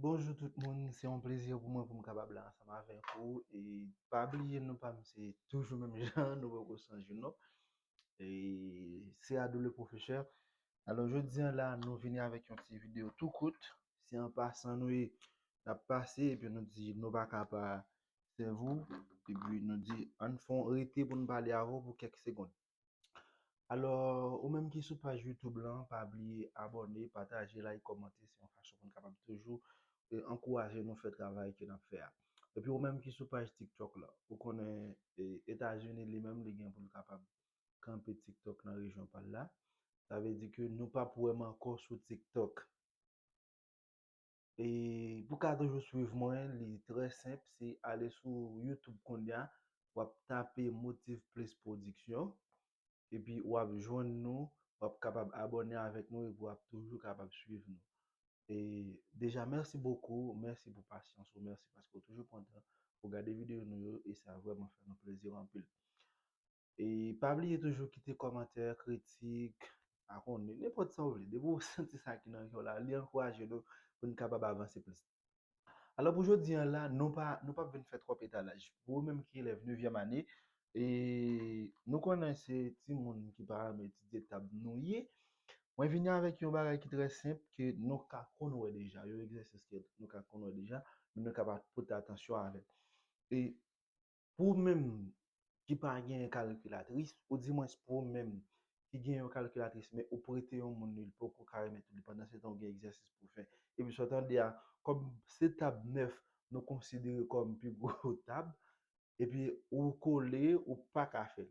Bonjou tout moun, se yon plezi pou mwen pou m kapab la ansanm avèk ou e pa bliye nou pa m se toujou menm jan nou poko chanje non e se Adou le professeur alò jodi an la nou vini avèk yon ti video tou kout se an pasan nou ye n ap pase epi nou di nou pa ka pa sèvi w epi nou di ann fon rete pou n pale avè w pou kèk segond. Alò, ou menm ki sou paj YouTube lan, pa bliye abòne, pataje, like, kòmante, se yon fason pou n kapab toujou ankouraje nou fè travay ke n ap fè a. Epi ou menm ki sou paj TikTok lan, ou konnen Etazini li menm li gen pou l kapab kanpe TikTok nan rejyon pa l la, sa vle di ke nou p ap wè m ankò sou TikTok. E pou ka toujou swiv mwen li trè senp se ale sou YouTube konnya wap tape Motiv Plis Production epi wap jwenn nou wap kapab abòne avèk nou epi wap toujou kapab swiv nou. E deja mèsi bokou, mèsi pou pasyans ou, mèsi paske ou toujou pran tan pou gade videyo nou yo e sa vrèman fè nou plezi anpil. E pa bliye toujou kite kòmantè, kritik, pa konnen, nenpòt sa ou vle. Depi ou santi sa ki nan kè w la, li ankouraje nou pou n kapab avanse plis. Alò pou jodi an la, nou pa nou pap vin fè twòp etalaj. Pou ou menm ki elèv nevyèm ane, e nou konnen se timoun ki pa renmen etidye tab nou ye, mwen vini avèk yon bagay ki trè senp ke nou ka konn wè deja, yon egzèsis ke nou ka konn wè deja, men nou ka pa pote atansyon avè l. E Pou ou menm ki pa gen yon kalkilatris, ou di mwens pou ou menm ki gen yon kalkilatris men ou prete yon moun li, li poko ka remèt ou li pandan se tan ou gen egzèsis pou fè. Epi sa w tande a, kòm se tab 9 nou konsidere kòm pi gwo tab, epi ou kole ou pa ka fè l.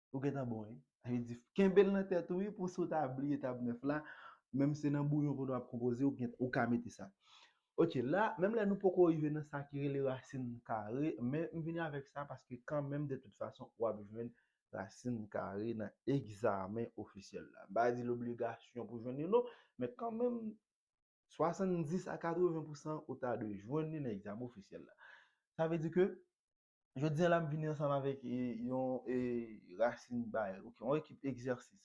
Ou gentan bon wi. Sa vle di kenbe l nan tèt ou wi pou si w ta bliye tab 9 la, menm se nan bouyon kote w ap konpoze ou gen ou ka mete sa. Ok la, menm lè nou poko rive nan sa ki rele rasin kare, men m vini avèk sa paske kanmenm de tout fason w ap jwenn rasin kare nan egzamen ofisyèl la. M pa di l obligasyon pou jwenn li non, men kanmenm 70 a 80 pousan ou ta dwe jwenn li nan egzamen ofisyèl la. Sa vle di ke Jodi an la m vini ansanm avèk yon rasin bay, yon ekip egzèsis.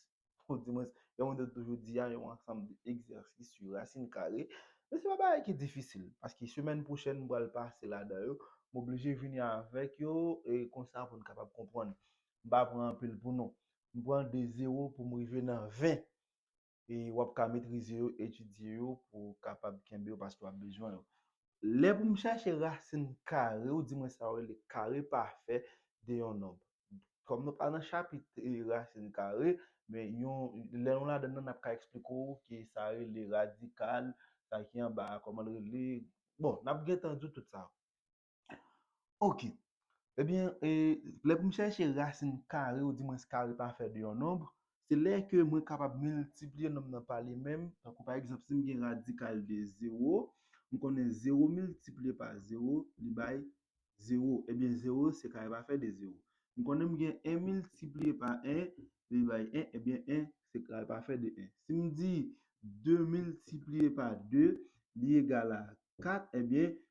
Ou di mwen, jan mwen te toujou di a, yon ansanm de egzèsis sou rasin kare. Men se pa bagay ki difisil, paske semèn pwochèn m pral pase ladan yo. M oblije vini avèk yo, e konsa pou n kapab konprann. M pa pran anpil pou nou. M pran de zewo pou m rive nan ven. e w ap ka metrize yo, etidye yo pou w kapab kenbe yo paske w ap bezwen yo. Lè pou m chache rasin kare ou di mwen sa yo rele kare pafè de yon nonb. Kòm nou pa nan chapit rasin kare, men lè nou ladan nan n ap ka eksplike w ki sa rele radikal, sa ki anba a kòman l rele, bon n ap gentan di w tout sa yo. Ok. Ebyen, e, lè pou m chèche rasin kare ou di mwens kare pafè de yon nonb, se lè ke mwen kapab miltipliye nonb nan pa li menm, tankou pa egzanp si m gen radikal de zewo, m konnen zewo miltipliye pa zewo li bay zewo, ebyen zewo se kare pafè de zewo. M konnen m gen 1 miltipliye pa 1 li bay 1, ebyen 1 se kare pafè de 1. Si m di 2 miltipliye pa 2 li egal a 4, ebyen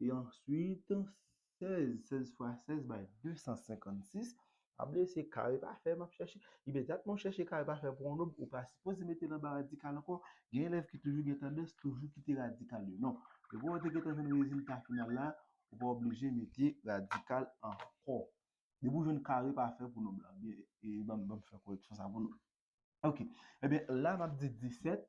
e answit 16, 16 fwa 16 bay 256, pa bliye se kare pafè map chèche, ebyen dat mwen chèche kare pafè pou yon nob ou pa sipoze mete l anba radikal ankò, gen elèv ki toujou gen tandans toujou kite radikal yo non, depi wè w te gentan jwenn rezilta final la, ou pa oblije mete radikal ankò, depi w jwenn kare pafè pou nob la, banm fè koreksyon sa pou nou, ok, ebyen la map di 17.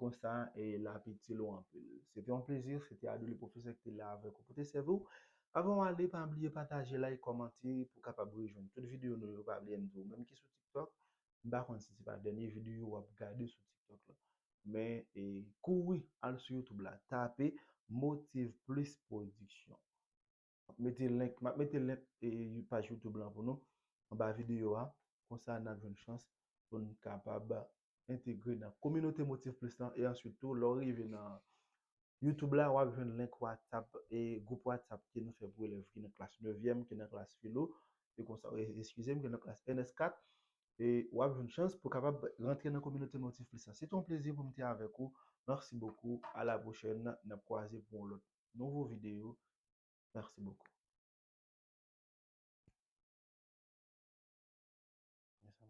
Konsa e l ap itil ou anpil. Se te yon plezi, se te Adouli Pwofesè ki te la avèk ou pou te sèvi w. Avan w ale, pa bliye pataje, like, kòmante pou w kapab rejwenn tout videyo nou yo. Pa bliye m di w, menm ki sou TikTok, m pa konn si se pa dènye videyo w ap gade sou TikTok la. Men e kouri al sou YouTube la, tape Motiv Plis Pwodiksyon. Map mete link, map mete link paj YouTube lan pou nou anba videyo a, konsa nap jwenn chans pou nou kapab entegre nan kominote Motif Plis lan e answit tou lè w rive nan YouTube la wap jwenn link WhatsApp e gwoup WhatsApp ke nou fè pou elèv ki nan klas nevyèm, ki nan klas filo e konsa, eskize m, ki nan klas ns 4 e wap jwenn chans pou kapab rantre nan kominote Motif Plis lan. Se te yon plezi pou m te avèk ou, merci beaucoup, a la prochaine, nap kwaze pou yon lòt. nouvo video merci beaucoup.